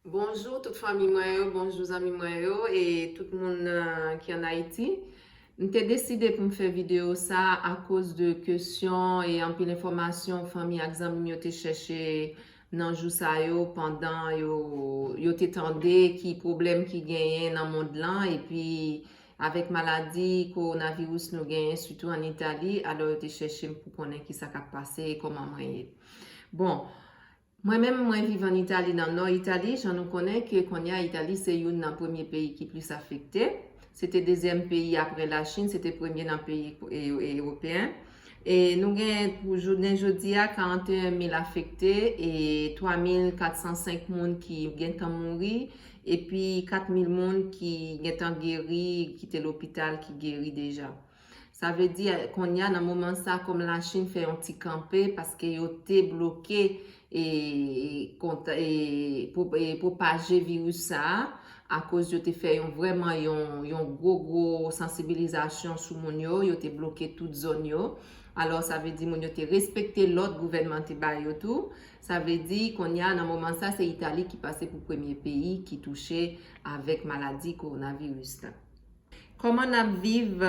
Bonjou tout fanmi mwen yo bonjou zanmi mwen yo e tout moun ki an Ayiti m te deside pou m fè videyo sa akoz de kesyon e anpil enfòmasyon fanmi ak zanmi m yo te chèche nan jou sa yo pandan yo yo te tande ki pwoblèm ki genyen nan mond lan epi avèk maladi kowonaviris nou genyen sitou an Itali alò yo te chèche m pou konnen kisa k ap pase e kòman mwen ye bon Mwen menm, mwen viv an Itali nan nò Itali, jan nou konnen ke kounye a Itali se youn nan premye peyi ki plis afekte. Se te dezyèm peyi apre Lachin, se te premye nan peyi ewopeyen. E nou gen pou jounen jodi a 41 mil afekte e 3 mil 405 moun ki gentan mouri epi 4 mil moun ki gentan geri, ki te lopital, ki geri deja. Sa vle di konnya nan moman sa kòm la chine fè yon ti kanpe paske yo te bloke e kont e pwopaje virus sa akoz yo te fè yon vrèman yon yon gwo gwo sansibilizasyon sou moun yo yo te bloke tout zòn yo alò sa vle di moun yo te respekte lòd gouvènman te ba yo tou sa vle di konnya nan moman sa se itali ki pase pou premye peyi ki touche avèk maladi kowonaviris la. Koman nap viv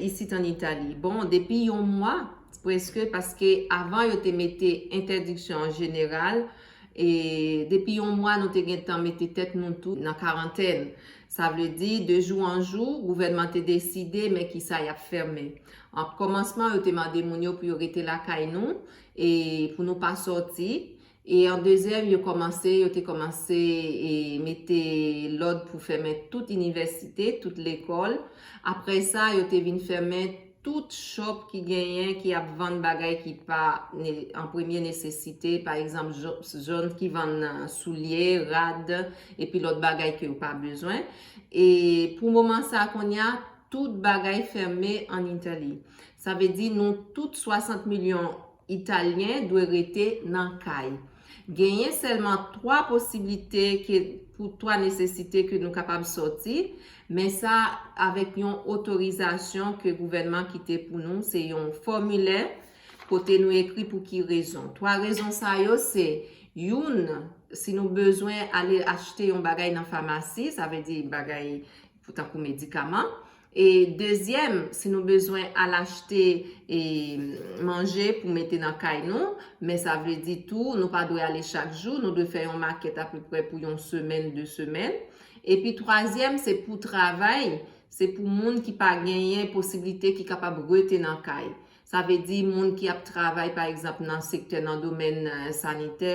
isit an Italie? Bon depi yon mwa preske paske avan yo te mete entèdiksyon an jeneral e depi yon mwa nou te gentan mete tèt nou tou nan karantèn sa vle di de jou an jou gouvènman te deside men kisa yap fèmen an kòmansman yo te mande moun yo pou yo rete lakay nou e pou nou pa sòti E an dezyèm, yo kòmanse, yo te kòmanse e mete lòd pou fèmen tout inivèsite, tout lekòl. Aprè sa, yo te vin fèmen tout chòp ki genyen, ki ap vann bagay ki pa an premye nesesite, pa egzanp, zòn ki vann soulye, rad, epi lòt bagay ke yo pa bezwen. E pou moman sa a kounye a, tout bagay fèmen an Itali. Sa vle di nou tout 60 milyon Italyen dwe rete nan kay. Genyen sèlman 3 posiblite ke pou 3 nesesite ke nou kapab sòti, men sa avèk yon otorizasyon ke gouvènman kite pou nou, se yon fòmilè kote nou ekri pou ki rezon. 3 rezon sa yo se, youn, si nou bezwen ale achte yon bagay nan famasi, sa vle di bagay tankou medikaman. E dezyèm, si nou bezwen al achte e manje pou mete nan kay nou, men sa vle di tou nou pa dwe ale chak jou, nou dwe fè yon makèt apeprè pou yon semèn, 2 semèn. Epi twazyèm, se pou travay, se pou moun ki pa genyen posiblite ki kapab rete nan kay. Sa vle di moun ki ap travay pa egzanp nan sektè nan domèn sanitè,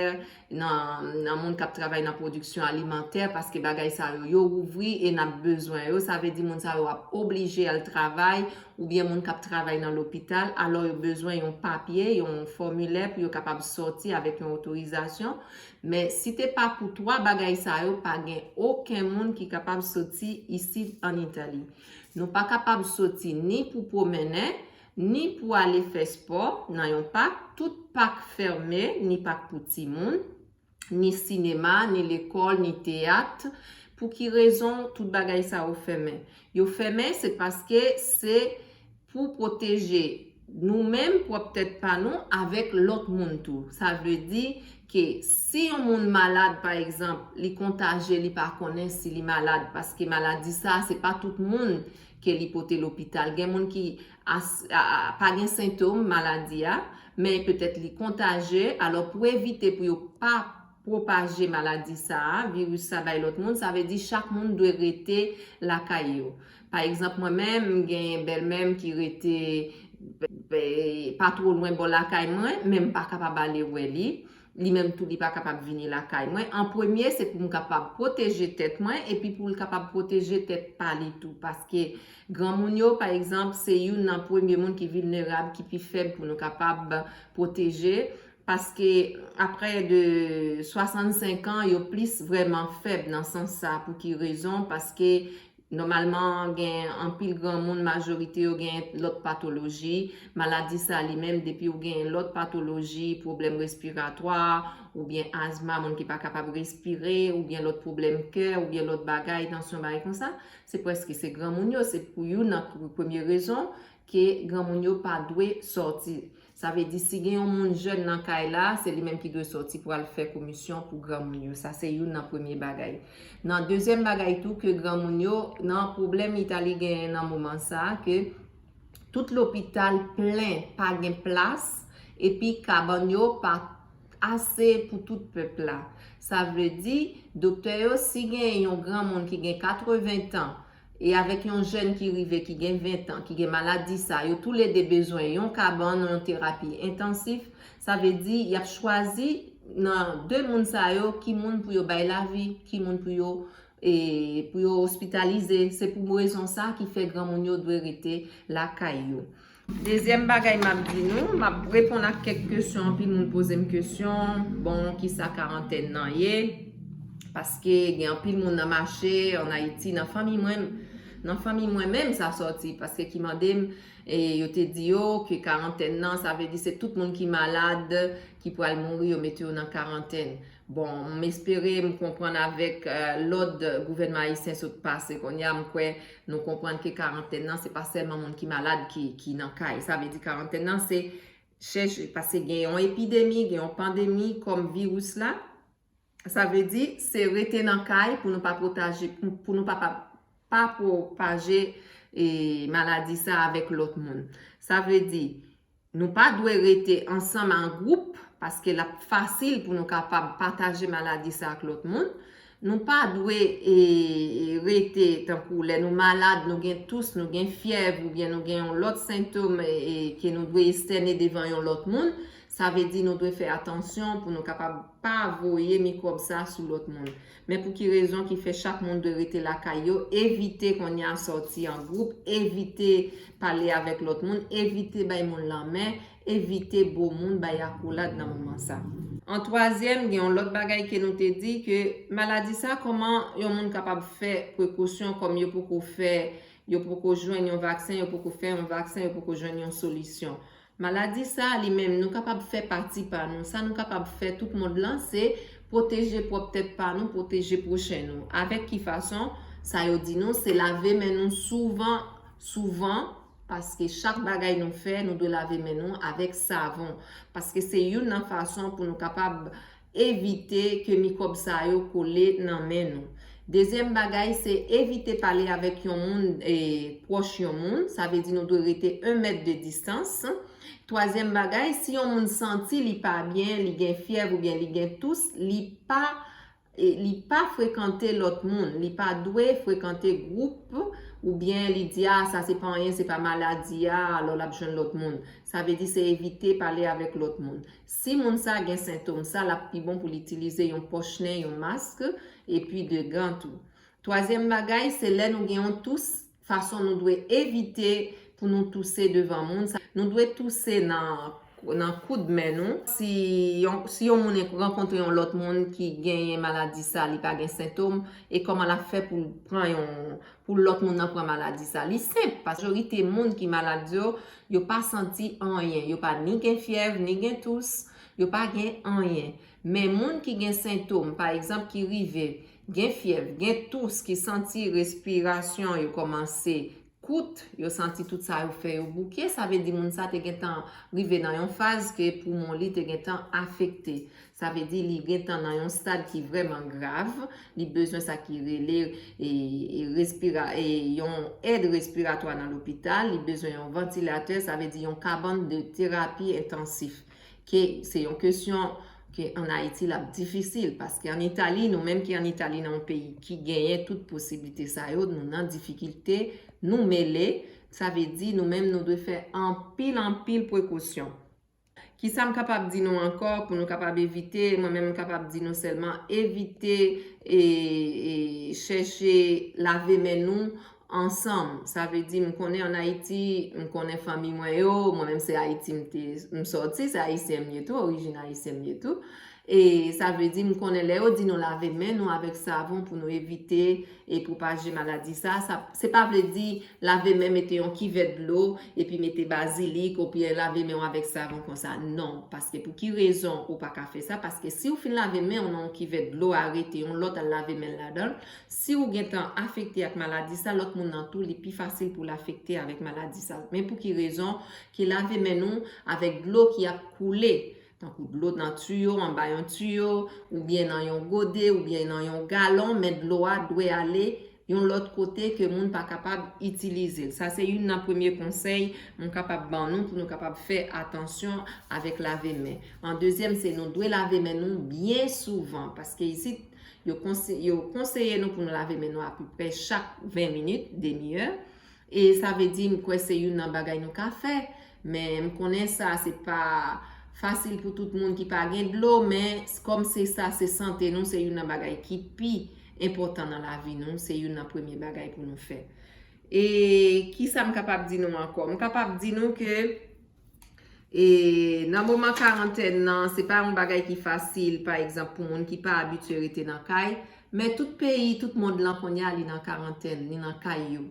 nan moun k ap travay nan pwodiksyon alimantè paske bagay sa yo yo ouvri e n ap bezwen yo sa vle di moun sa yo ap oblije al travay oubyen moun k ap travay nan lopital alò yo bezwen yon papye yon fòmilè pou yo kapab sòti avèk yon otorizasyon men si te pa pou 3 bagay sa yo pa gen oken moun ki kapab sòti isit an Italie. Nou pa kapab soti ni pou pwomennen, ni pou ale fè spò nan yon pak, tout pak fèmen, ni pak pou timoun, ni sinema, ni lekòl, ni teyat. Pou ki rezon tout bagay sa yo fèmen? Yo fèmen se paske se. Pou pwoteje nou menm, pwòp tèt pa nou, avèk lòt moun tou. Sa vle di ke si yon moun malad pa egzanp, li kontaje li pa konnen si li malad paske maladi sa se pa tout moun ke li pote lopital. Gen moun ki pa gen sentom maladi a, men petèt li kontaje, alò pou evite pou yo pa pwopaje maladi sa, viris sa bay lòt moun, sa vle di chak moun dwe rete lakay yo. Pa egzanp mwen menm m gen bèlmè m ki rete pa two lwen bò lakay mwen men m pa kapab ale wè li, li menm tou li pa kapab vini lakay mwen, an premye se pou m kapab pwoteje tèt mwen epi pou l kapab pwoteje tèt pa li tou paske granmoun yo pa egzanp se youn nan premye moun ki vilnerab ki pi fèb pou nou kapab pwoteje paske aprè de 65 an yo plis vrèman fèb nan sans sa pou ki rezon paske Nòmalman, gen anpil granmoun majorite yo gen lòt patoloji. Maladi sa li menm depi ou gen lòt patoloji, pwoblèm respiratwa, oubyen azma, moun ki pa kapab respire, oubyen lòt pwoblèm kè, oubyen lòt bagay, tansyon bagay konsa, se prèske se granmoun yo, se pou youn nan premye rezon ke granmoun yo pa dwe sòti. Sa vle di si gen yon moun jèn nan kay la, se li menm ki dwe sòti pou al fè komisyon pou granmoun yo. Sa se youn nan premye bagay. Nan dezyèm bagay tou ke granmoun yo, nan pwoblèm Itali genyen nan moman sa, ke tout lopital plen, pa gen plas, epi kabann yo pa ase pou tout pèp la. Sa vle di, doktè yo, si gen yon granmoun ki gen 80 tan, e avèk yon jèn ki rive ki gen 20 tan ki gen maladi sa yo tou le 2 bezwen yon kabann ou yon terapi entansif sa vle di yap chwazi nan 2 moun sa yo ki moun pou yo bay lavi ki moun pou yo e pou yo ospitalize se pou rezon sa ki fè granmoun yo dwe rete lakay yo. Dezyèm bagay m ap di nou, m ap reponn ak kèk kesyon, anpil moun poze m kesyon, bon kisa karantèn nan ye, paske gen anpil moun nan mache, an Ayiti, nan fanmi mwen, nan fanmi mwen menm sa sòti, paske ki mande m, e yo te di yo, ke karantèn nan, sa vle di se tout moun ki malad, ki pral mouri yo mete yo nan karantèn. Bon, m espere m konprann avèk lòd gouvènman ayisyen sot pase kounye a, m kwè nou konprann ke karantèn nan se pa sèlman moun ki malad ki nan kay. Sa vle di karantèn nan se chèche, pase gen yon epidemi, gen yon pandemi kòm viris la, sa vle di se rete nan kay pou nou pa pwotaje, pou nou pa pa pwopaje maladi sa avèk lòt moun. Sa vle di. Nou pa dwe rete ansanm an gwoup paske l ap fasil pou nou kapab pataje maladi sa ak lòt moun. Nou pa dwe rete tankou lè nou malad, nou gen tous, nou gen fyèv oubyen nou gen yon lòt sentom ke nou dwe estène devan yon lòt moun. Sa vle di nou dwe fè atansyon pou nou kapab pa voye mikwòb sa sou lòt moun. Men pou ki rezon ki fè chak moun dwe rete lakay yo, evite kounye a sòti an gwoup, evite pale avèk lòt moun, evite bay moun lanmen, evite bo moun, bay akolad nan moman sa. An twazyèm, gen yon lòt bagay ke nou te di ke maladi sa kòman yon moun kapab fè prekosyon kòm yo poko fè, yo poko jwenn yon vaksen, yo poko fè yon vaksen, yo poko jwenn yon solisyon. Maladi sa a li menm, nou kapab fè pati pa nou. Sa nou kapab fè tout mond lan, se pwoteje pwòp tèt pa nou, pwoteje pwochen nou. Avèk ki fason? Sa yo di nou, se lave men nou souvan, souvan, paske chak bagay nou fè, nou dwe lave men nou avèk savon. Paske se youn nan fason pou nou kapab evite ke mikwòb sa yo kole nan men nou. Dezyèm bagay se evite pale avèk yon moun pwòch yon moun, sa vle di nou dwe rete 1 mèt de distans. Twazyèm bagay, si yon moun santi li pa byen, li gen fyèv oubyen li gen tous, li pa li pa frekante lòt moun, li pa dwe frekante gwoup oubyen li di a sa se pa anyen se pa maladi a alò l ap jwenn lòt moun. Sa vle di se evite pale avèk lòt moun. Si moun sa gen sentom sa lap pi bon poul itilize yon pòch nen, yon mask, epi 2 gan tou. Twazyèm bagay se lè nou gen yon tous fason nou dwe evite pou nou touse devan moun sa nou dwe touse nan nan koud men nou, si yon si yon moun rankontre yon lòt moun ki genyen maladi sa li pa gen sentom e kòman lap fè poul pran yon pou lòt moun nan pran maladi sa li senp majorite moun ki malad yo Yo pa santi anyen. Yo pa ni gen fyèv, ni gen tous. Yo pa gen anyen. Men moun ki gen sentom, pa egzanp ki rive gen fyèv, gen tous, ki santi respirasyon yo kòmanse kout, yo santi tout sa yo fè yo bouke, sa vle di moun sa te gentan rive nan yon faz ke poumon li te gentan afekte. Sa vle di li gen tan nan yon stad ki vrèman grav, li bezwen sa ki rele yon èd respiratwa nan lopital, li bezwen yon vantilatè, sa vle di yon kabann de terapi entansif. Ke se yon kesyon ke an Ayiti l ap difisil, paske an Itali, nou menm ki an Itali nan yon peyi ki genyen tout posiblite sa yo, nou nan difikilte, nou mele, sa vle di nou menm nou dwe fè anpil anpil prekosyon. Kisa m kapab di nou ankò pou nou kapab evite, mwen menm m kapab di nou sèlman evite e chèche lave men nou ansanm. Sa vle di m konnen an Ayiti, m konnen fanmi mwen yo, mwen menm se Ayiti m te m sòti, se Ayisyen m ye tou, orijin Ayisyen m ye tou. E sa vle di, m konnen lè yo di nou lave men nou avèk savon pou nou evite e pwopaje maladi sa, sa se pa vle di lave men mete yon kivèt dlo epi mete bazilik oubyen lave men w avèk savon konsa. Non, paske pou ki rezon ou pa ka fè sa, paske si w fin lave men w nan yon kivèt dlo a rete yon lòt al lave men l ladan l, si w gen tan afekte ak maladi sa lòt moun nan tou li pi fasil pou l afekte avèk maladi sa. Men pou ki rezon ke lave men nou avèk dlo ki ap koule tankou dlo nan tiyo, anba yon tiyo, oubyen nan yon gode, oubyen nan yon galon, men dlo a dwe ale yon lòt kote ke moun pa kapab itilize l. Sa se youn nan premye konsèy m kapab ban nou pou nou kapab fè atansyon avèk lave men. An dezyèm se nou dwe lave men nou byen souvan, paske isit yo konseye nou pou nou lave men nou apeprè chak 20 minit, demi è, E sa vle di m kwè se youn nan bagay nou ka fè. Men m konnen sa se pa fasil pou tout moun ki pa gen dlo men kòm se sa se sante nou se youn nan bagay ki pi enpòtan nan lavi nou se youn nan premye bagay pou nou fè. E kisa m kapab di nou ankò? M kapab di nou ke E nan moman karantèn nan, se pa yon bagay ki fasil, pa egzanp, pou moun ki pa abitye rete nan kay. Men tout peyi, tout mond lan kounye a, li nan karantèn, li nan kay yo.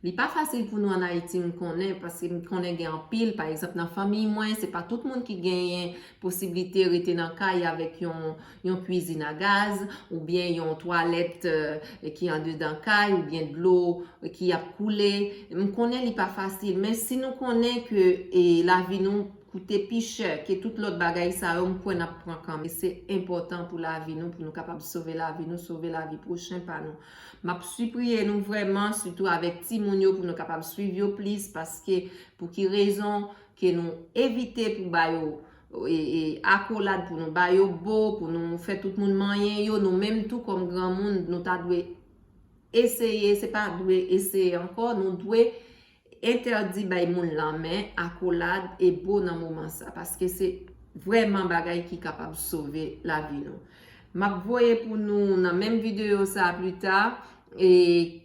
Li pa fasil pou nou an Ayiti, m konnen, paske m konnen gen anpil, pa egzanp, nan fanmiy mwen, se pa tout moun ki genyen posiblite rete nan kay avèk yon yon kwizin a gaz, oubyen yon twalèt ki andedan kay, oubyen dlo ki ap koule. M konnen li pa fasil, men si nou konnen ke lavi nou koute pi chè ke tout lòt bagay sa yo, m kwè n ap pran kanmenm. Se enpòtan pou lavi nou, pou nou kapab sove lavi nou, sove lavi pwochen pa nou. M ap sipriye nou vrèman, sitou avèk timoun yo, pou nou kapab swiv yo plis, paske pou ki rezon ke nou evite pou ba yo akolad pou nou ba yo bo, pou nou fè tout moun manyen yo, nou menm tou kòm granmoun nou ta dwe eseye, se pa dwe eseye ankò, nou dwe entèdi bay moun lanmen, akolad e bo nan moman sa, paske se vrèman bagay ki kapab sove lavi nou. M ap voye pou nou nan menm videyo sa a plita,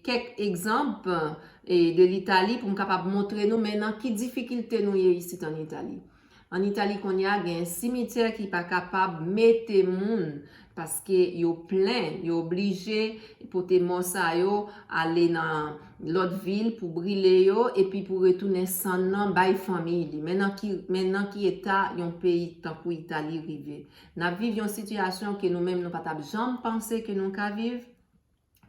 kèk egzanp de l'Italie pou m kapab montre nou men nan ki difikilte nou ye isit an Italie. An Itali kounye a gen simityè ki pa kapab mete moun paske yo plen, yo oblije pote mò sa yo ale nan lòt vil pou brile yo epi pou retounen sann nan bay fanmiy li. Men nan ki eta yon peyi tankou Itali rive. N ap viv yon sitiyasyon ke nou menm nou pa t ap janm panse ke nou ka viv.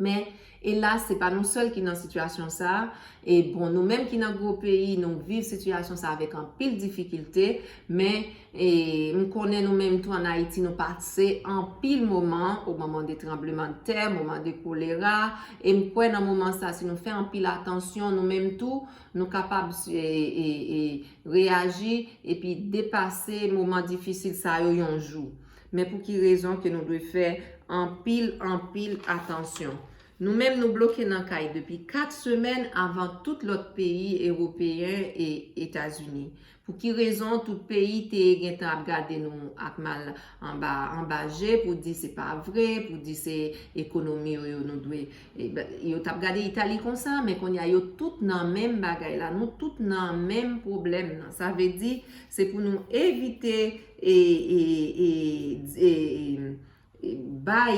Men, elas, se pa nou sèl ki nan sitiyasyon sa a. E bon, nou menm ki nan gwo peyi, nou viv sitiyasyon sa a avèk anpil difikilte. Men, e, m konnen nou menm tou ann Ayiti nou pase anpil moman, o moman de tranblemanntè, moman de kolera. E m kwè nan moman sa a, si nou fè anpil atansyon, nou menm tou, nou kapab e, e, e, reyaji epi depase moman difisil sa yo yon jou. Men pou ki rezon ke nou dwe fè anpil, anpil atansyon? Nou menm nou bloke nan kay depi 4 semèn avan tout lòt peyi ewopeyen e Etazini. Pou ki rezon tout peyi te gen tan ap gade nou ak mal anba, anba je pou di se pa vre, pou di se ekonomi yo yo nou dwe. Yo t ap gade Itali konsa, men kounye a yo tout nan menm bagay la, nou tout nan menm pwoblèm nan. Sa vle di, se pou nou evite e bay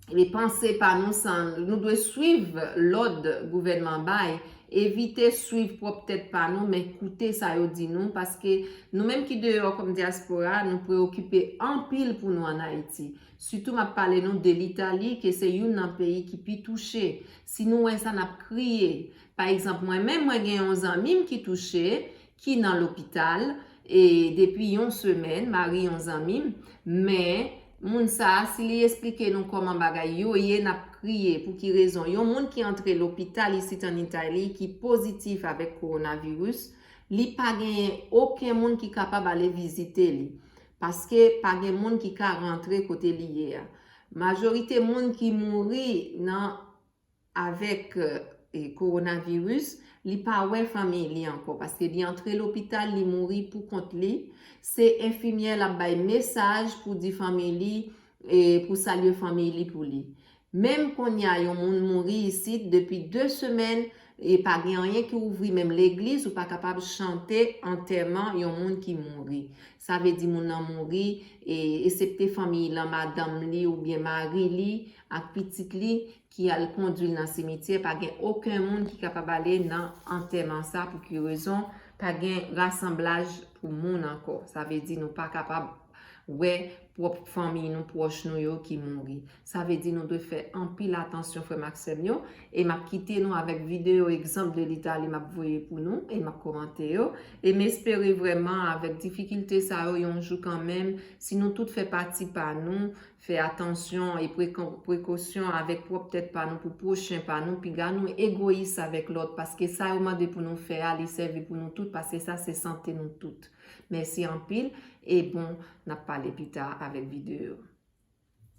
e panse pa nou san nou dwe swiv lòd gouvènman bay evite swiv pwòp tèt pa nou men koute sa yo di nou paske nou menm ki deyò kòm dyaspora nou preokipe anpil pou nou an Ayiti sitou m ap pale nou de Litali ke se youn nan peyi ki pi touche si nou wè sa n ap kriye pa egzanp mwen menm mwen gen yon zanmi m ki touche ki nan lopital e depi yon semèn mari yon zanmi m men moun sa si li esplike nou kòman bagay yo ye n ap kriye pou ki rezon yon moun ki antre lopital isit an Italie ki pozitif avèk kowonaviris li pa genyen oken moun ki kapab ale vizite li paske pa gen moun ki ka rantre kote li ye a majorite moun ki mouri nan avèk Coronavirus li pa wè fanmiy li ankò paske li antre lopital li mouri pou kont li se enfimyè lap bay mesaj pou di fanmiy li pou salye fanmiy li pou li menm konnya yon moun mouri isit depi 2 semèn pa gen anyen ki ouvri menm legliz ou pa kapab chante antèman yon moun ki mouri sa vle di moun nan mouri esepte fanmiy lan madanm li oubyen mari li ak pitit li ki al kondwi l nan simityè pa gen oken moun ki kapab ale nan antèman sa pou ki rezon pa gen rasanblaj pou moun ankò sa vle di nou pa kapab wè pwòp fanmiy nou pwòch nou yo ki mouri sa vle di nou dwe fè anpil atansyon frè m ak sè m yo e m ap kite nou avèk videyo egzanp de litali m ap voye pou nou e m ap komante yo e m espere vrèman avèk difikilte sa yo yon jou kanmenm si nou tout fè pati pa nou Fè atansyon e pran prekosyon avèk pwòp tèt pa nou pou pwochen pa nou, piga nou egoyis avèk lòt, paske sa yo mande pou nou fè a li sèvi pou nou tout paske sa se sante nou tout. Mèsi anpil e bon nap pale pita avèk videyo.